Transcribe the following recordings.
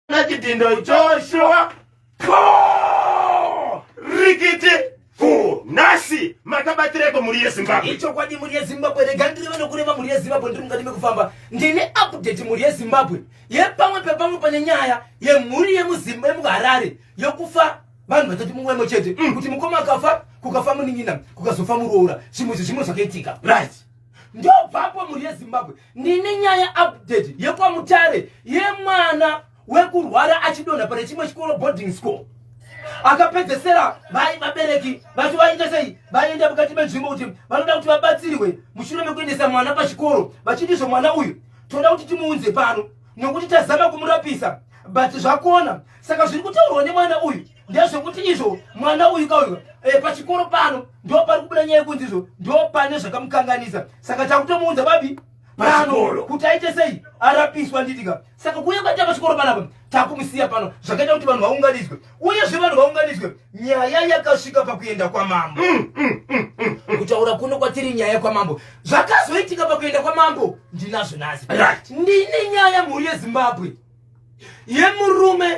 na chitindo joshua po rikiti ku nasi makabatireko mhuri yezimbabwe ichokwadi mhuri yezimbabwe rega ndireva nokureva mhuri yezimbabwe ndiri mukati mekufamba ndine update mhuri yezimbabwe yepamwe pepamwe pane nyaya yemhuri yemuzimba yemuharare yokufa vanhu vatoti mumwemo chete mm. kuti mukoma akafa kukafa munin'ina kukazofa muroora zvimwe zvezvimwe zvakaitika right ndobvapo mhuri yezimbabwe ndine nyaya update yekwamutare yemwana wekurwara achidonha pane chimwe chikoro boarding school akapedzesera vai vabereki vacho vaita sei vaenda mukati menzvimbo kuti vanoda kuti vabatsirwe mushure mekuendesa mwana pachikoro vachindizvo mwana uyu toda kuti timuunze pano nokuti tazama kumurapisa but zvakona saka zviri kutaurwa nemwana uyu ndezvekuti izvo mwana uyu kauyu e, eh, pachikoro pano ndo pari kubuda nyaya yekunzi izvo ndo pane zvakamukanganisa saka takutomuunza babi pano kuti aite sei arapiswa nditika saka kuuya kwaita pachikoro panapa takumusiya pano zvakaita kuti vanhu vaunganidzwe uyezve vanhu vaunganidzwe nyaya yakasvika pakuenda kwamambo mm, mm, mm, mm, mm. kutaura kuno kwatiri nyaya yekwamambo zvakazoitika pakuenda kwamambo ndinazvo nhasi right. ndine nyaya mhuri yezimbabwe yemurume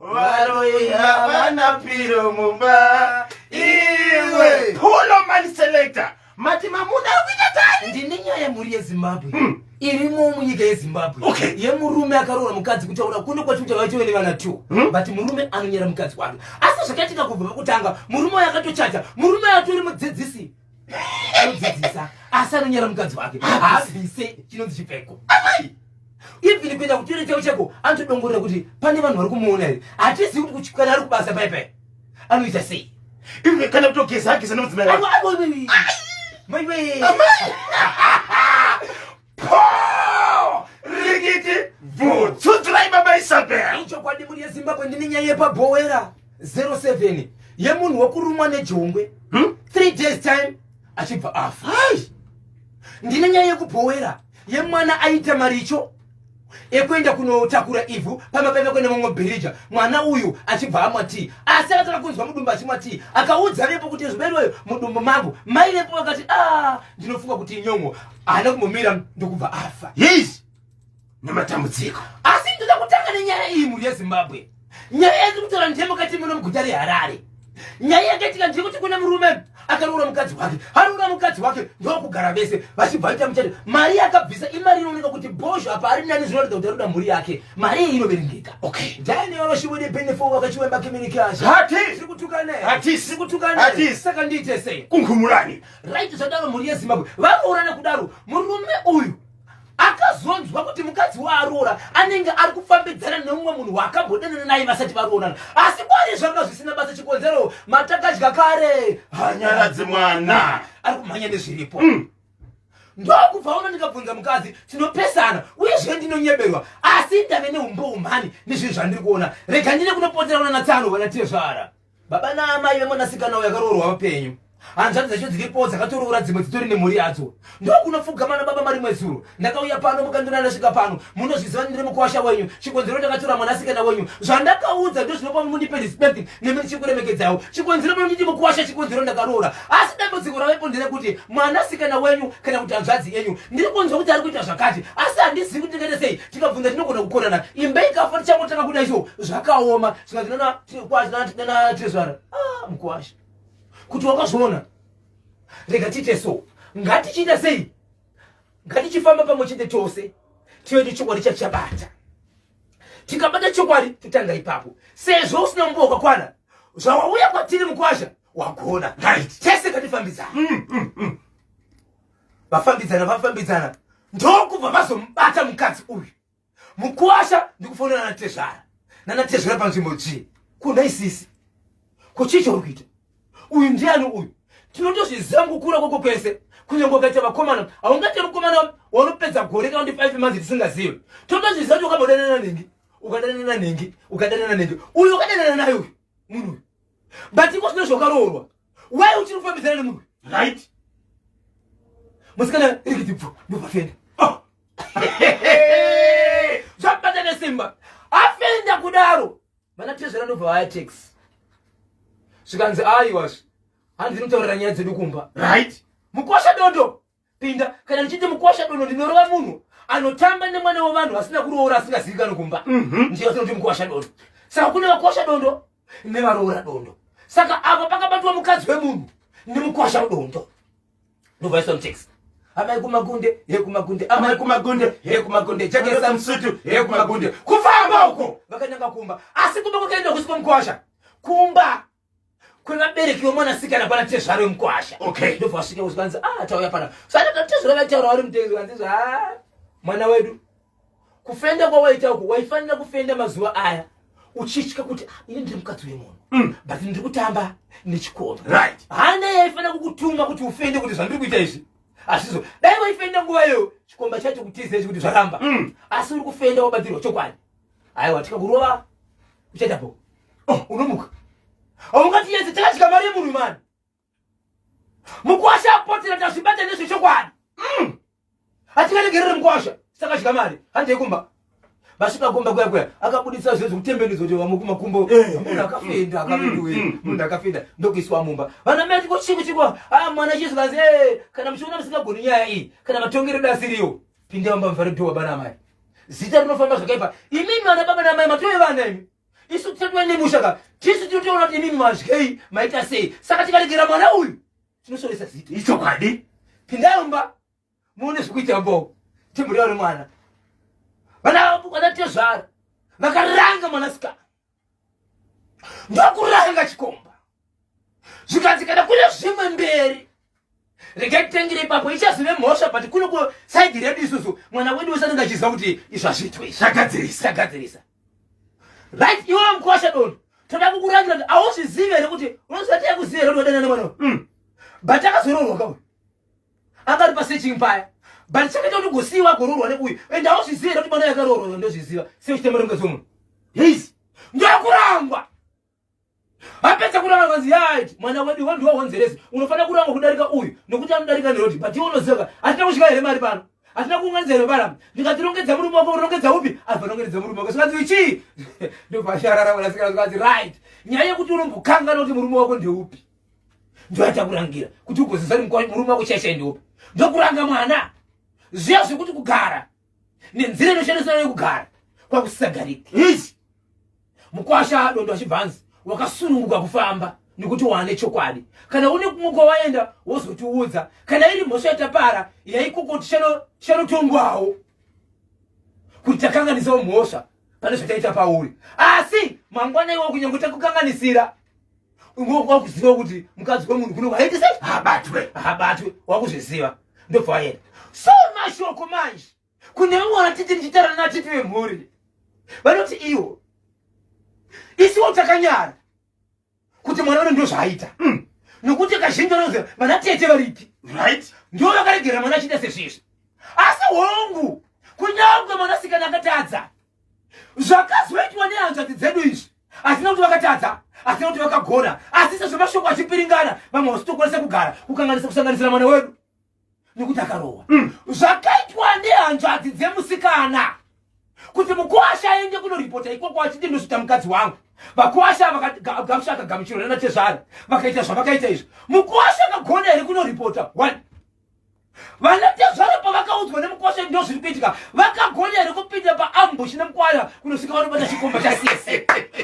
varoyi havana piro mumba iwe hulo mani selector mati mamuna akuita tani ndine nyaya yemhuri yezimbabwe hmm. irimo munyika yezimbabwe okay. yemurume akaroora mukadzi kutaura kuno kwati kuti vaitove nevana t hmm? but murume anonyera mukadzi wake asi zvakaitika kubva pakutanga murume wayo akatochacha murume atori mudzidzisi anodzidzisa asi anonyara mukadzi wake haabvise chinonzi chipfeko even kuenda kutoire chavo chako anotodongorera kuti pane vanhu vari kumuona here hatizivi kuti kuchikana ari kubasa paipai anoita sei even kana kutogeza ageza nomudzimai wake maiwee rikiti bvu tsudzurai baba isabel ichokwadi muri yezimbabwe ndine nyaya yepabhowera 07 yemunhu wekurumwa nejongwe hmm? three days time achibva afa ndine nyaya yekubhowera yemwana aita maricho ekuenda kunotakura ivhu pamba paive kuenda mamwe bhirija mwana uyu achibva amwa tii asi akatanga kunzwa mudumbu achimwa tii akaudza vepo kuti zviberweyo mudumbu mangu mai vepo vakati a ah, ndinofunga kuti inyongo haana kumbomira ndokubva afa yes nematambudziko asi ndoda kutanga nenyaya iyi mhuri yezimbabwe nyaya yatiri kutaura ndeyemukati muno muguta reharare nyaya yakaitika ndeyekuti kune murume akaroora mukadzi wake aroora mukadzi wake ndokugara vese vachibva vaita muchato mari yakabvisa imari inooneka kuti bozho apa ari nani zvinoratidza kuti aroda mhuri yake mari iyi inoverengeka okay dani vanoshiwede benefo vakachiwemba kimirikazi hati tiri kutukane hati tiri kutukane hati saka ndiite sei kunghumurani right zvadaro mhuri yezimbabwe varoorana kudaro murume uyu akazonzwa kuti mukadzi waaroora anenge ari kufambidzana neumwe munhu waakambodanana naye vasati varoorana asi kwari zvanga zvisina basa chikonzero matakadya kare hanyaradzi mwana ari kumhanya nezviripo mm. ndokubva uno ndikabvunza mukadzi tinopesana uye zve ndinonyeberwa asi ndave neumbo umhani nezvinhu zvandiri kuona rega ndine kunopotera unanatsano vanatezvara Baba naamai vemwanasikana uyo akaroorwa vapenyu. Hanzvadzi dzacho dziripo dzakatoroora dzimwe dzitori nemhuri yadzo. Ndokunopfugama nababa mari mwezuro. Ndakauya pano mukandona ndasvika pano. Munozviziva ndiri mukuwasha wenyu. Chikonzero ndakatora mwanasikana wenyu. Zvandakaudza ndozvinopa mundipe respect nemi ndichikuremekedzawo. Chikonzero pano nditi mukuwasha chikonzero ndakaroora. Asi dambudziko ravepo nderekuti mwanasikana wenyu kana kuti hanzvadzi yenyu ndiri kunzwa kuti ari kuita zvakati asi handizivi kuti tingaita sei tikabvunza tinogona kukonana imba ikafa tichangotanga kuda izvo zvakaoma tezvara ah, mukwasha kuti wakazviona rega tiite so ngatichiita sei ngatichifamba pamwe chete tose tiyoite chokwadi chachabata tikabata chokwadi totanga ipapo sezvo usina nguva wakakwana zvawauya kwatiri mukwasha wagona right tese katifambidzana mm, mm, mm. vafambidzana vafambidzana ndokubva vazomubata mukadzi uyu mukuwasha ndikufonera natezvara nanatezvara panzvimbo dzii kuna isisi kuchii chauri kuita uyu ndiani uyu tinotozviziva mukukura kwoko kwese kunyange ukaita vakomana haungaite mukomana wanopedza gore kana kuti five months tisingazive totozviziva kuti ukambodanana nengi ukadanana nengi ukadanana nengi uyu ukadanana naye uyu munhu uyu but iko zvino zvakaroorwa why uchiri kufambidzana nemunhu right musikana irikiti bvu ndobafenda oh. zvabata nesimba afenda kudaro vana tezvera ndobva vaya tax zvikanzi aiwazvi hanzi ndinotaurira nyaya dzedu kumba right mukosha dondo pinda kana ndichiti mukwasha dono ndinorova munhu anotamba nemwana wevanhu vasina kuroora asingazivi kano kumba mhm. ndiyo asinoti mukwasha dono saka kune vakwasha dondo nevaroora dondo saka apa pakabatwa mukadzi wemunhu nemukwasha dondo ndovaiswa mutext amai kumagunde he kumagunde amai kumagunde he kumagunde jekesa msutu he kumagunde kufamba uko vakananga kumba asi kumba kwakaenda kusiko mukwasha kumba kwevabereki vemwanasikana pana tezvaro wemukwasha okay ndobva vasvika kuzikanzi ah tauya pana saka tezvaro vaitaura vari mutenzi kanzi ah mwana wedu kufenda kwawaita uku waifanira kufenda mazuva aya uchitya kuti ah, ini ndiri mukadzi wemunhu mm. but ndiri kutamba nechikomba right hana yaifanira kukutuma kuti ufende kuti zvandiri kuita izvi hazvizo dai waifenda nguva iyo chikomba chacho kutizei kuti zvaramba mm. asi uri kufenda wabatirwa chokwadi aiwa tikakurova uchaita po oh, unomuka aungati yese takasvika mari yemunhu mani mukwasha apotera tazvibata nezvechokwadi mm. hatingaregerere mukwasha sakasvika mari handei kumba vasvika kumba kuya kuya akabudisa zve zvekutembenudzo kuti vamwe kumakumbo eh, eh. munhu akafenda mm, akavidiwe mm, mm. munhu akafenda ndokuiswa mumba vana mai tiko chiko chiko a ah, mwana chizikazi eh, kana muchiona musingagoni nyaya iyi kana matongero dasiriyo Pinda mumba muvhare door baba namai. Zita rinofamba zvakaipa. Imimi vana baba namai matove vana imi. Isu tisatova nemusha ka. Tisu tinotoona kuti imimi mazvei maita sei. Saka tikaregera mwana uyu tinosoresa zita. Ichokwadi. Pinda mumba muone zvekuita mbo. Timburia uri mwana. Vana vana tezvara. Vakaranga mwanasikana. ndokuranga chikomba zvikanzi kana kune zvimwe mberi regai titengere ipapo ichazive mhosva but kuno ku saidi redu isusu mwana wedu wese anenge achiziva kuti izvo hazviitwe zvagadzirisa right iwe mkwasha doni toda kukurangira kuti hauzvizive here kuti unoziva taya kuziva here kuti wadana nemwana uyu hmm. but akazororwa kauyu anga ari pasearching paya but chakaita kuti ugosiiwa agoroorwa neuyu and hauzviziva here kuti mwana yakaroorwa ndozviziva seuchitema ronge dzomunhu yes ndokurangwa apedza kuranga kanzi yaiti mwana wedu iwe ndiwo wonzeresi unofanira kurangwa kudarika uyu nokuti anodarika neroti but iwe unoziva hatina kusvika here mari pano hatina kuunganidza here paramba ndikatirongedza murume wako urongedza upi avanongedza murume wako zvikanzi ichii ndobva asharara vanasikana zvikanzi right nyaya yekuti unombokangana kuti murume wako ndeupi ndoatakurangira kuti ugozeza murume wako chaishai ndiopa ndokuranga mwana zviya zvekuti kugara nenzira inoshandiswa nayo kugara kwakusisagarika ichi mukwasha dondo achibva anzi wakasununguka kufamba nekuti waane chokwadi kana une kumwe kwawaenda wozotiudza kana iri mhosva yatapara yaikokoti chanotongwawo kuti takanganisawo mhosva pane zvataita pauri asi mangwana iwo kunyange takukanganisira unonga wakuziva kuti mukadzi wemunhu kuno waiti sei habatwe habatwe wakuzviziva ndobva waenda so mashoko manje kune vamwe vanatiti ndichitarana natiti vemhuri vanoti iwo isiwo takanyara kuti mwana uno ndo zvaaita mm. nokuti kazhinji vanoziva vanatete varipi right ndo vakaregera mwana achiita sezvizvi asi hongu kunyange mwanasikana akatadza zvakazoitwa nehanzvadzi dzedu izvi hazina kuti vakatadza hazina kuti vakagona asi sezvo mashoko achipiringana vamwe vasi tokwanisa kugara kukanganisa kusanganisira mwana wedu nekuti akarohwa mm. zvakaitwa nehanzvadzi dzemusikana kuti mukwasha aende kunoripota ikoko achiti ndozvita mukadzi wangu vakwasha vakagamusha akagamuchirwa nanatezvara vakaita zvavakaita izvi mukwasha akagona here kunoripota one vana tezvara pavakaudzwa nemukwasha ndo zviri kuitika vakagona here kupinda paambush nemukwaya kunosvika vanobata chikomba chasisi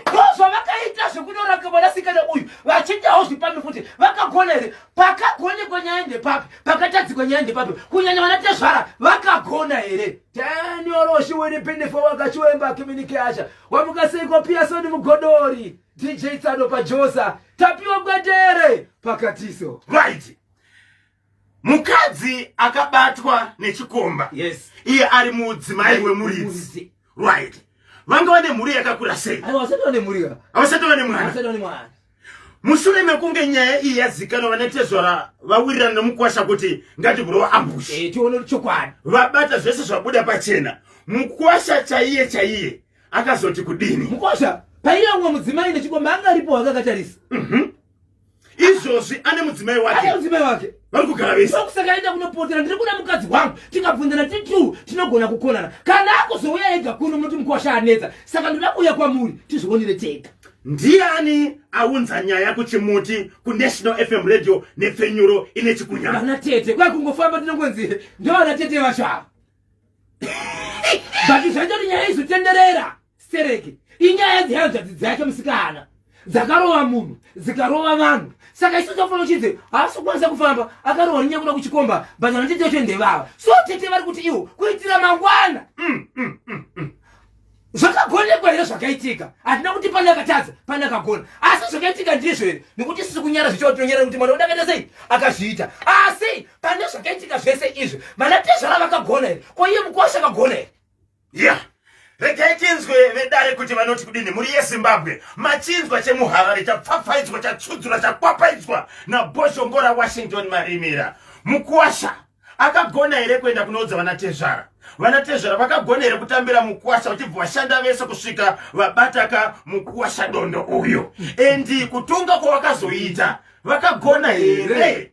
ko zvavakaita zvekunoraka mwanasikana uyu vachindawo zvipambi futi vakagona here pakagonekwa nyaya ndepapi pakatadzikwa nyaya ndepapi kunyanya vana tezvara vakagona here tanyoroshi wenipindifo wakachiwemba kiminike asha wamukaseiko piyasoni mugodori dj tsano pajosa tapiwa gwetere pakatiso right mukadzi akabatwa nechikomba yes. iye ari mudzimai wemuridzi right vanga vane mhuri yakakura sei avasati vane mhuri avasati vane mwana mushure mekunge nyaya iyi yazikanwa vane tezvara vawirirana nemukwasha kuti ngatibhurowa ambush eh, tione chokwadi vabata zvese zvabuda pachena mukwasha chaiye chaiye akazoti kudini mukwasha paiya umwe mudzimai nechikomba anga aripo akakatarisa mm -hmm. izvozvi ane mudzimai wake mudzimai wake vari kugara vese kusaka aenda kunopotera ndiri kuda mukadzi wangu tikabvunzana tiri two tinogona kukonana kana akuzouya ega kuno munoti mukwasha anetsa saka ndoda kuuya kwamuri tizvionere tega ndiani aunza nyaya kuchimuti kunational fm radio nepfenyuro ine chikunyana vana tete kwai kungofamba tinongonzi ndovana tete vacho ava but zvaitoti nyaya izotenderera stereki inyaya dzehanzvadzi dzake musikana dzakarova munhu dzikarova vanhu saka isu tofanira uchidze haasi kukwanisa kufamba akarova rinyaya kuda kuchikomba but vanotete vacho ndevava so tete vari kuti iwo kuitira mangwana mm, mm, mm, mm. zvakagonekwa here zvakaitika hatina kuti pane akatadza pane akagona asi zvakaitika ndizvo here nekuti sisi kunyara zvichava tinonyara kuti mwana udakaita sei akazviita asi pane zvakaitika zvese izvi vanatezvara vakagona here ko iye mukosha akagona here yeah regai tinzwe vedare kuti vanoti kudini mhuri yezimbabwe machinzwa chemuharare chapfapfaidzwa chatsudzura chakwapaidzwa nabhoshongora washington marimira mukuwasha akagona here kuenda kunoudza vanatezvara vanatezvara vakagona here kutambira mukuwasha vachibva vashanda vese kusvika vabataka mukuwasha dondo uyu endi kutonga kwavakazoita vakagona here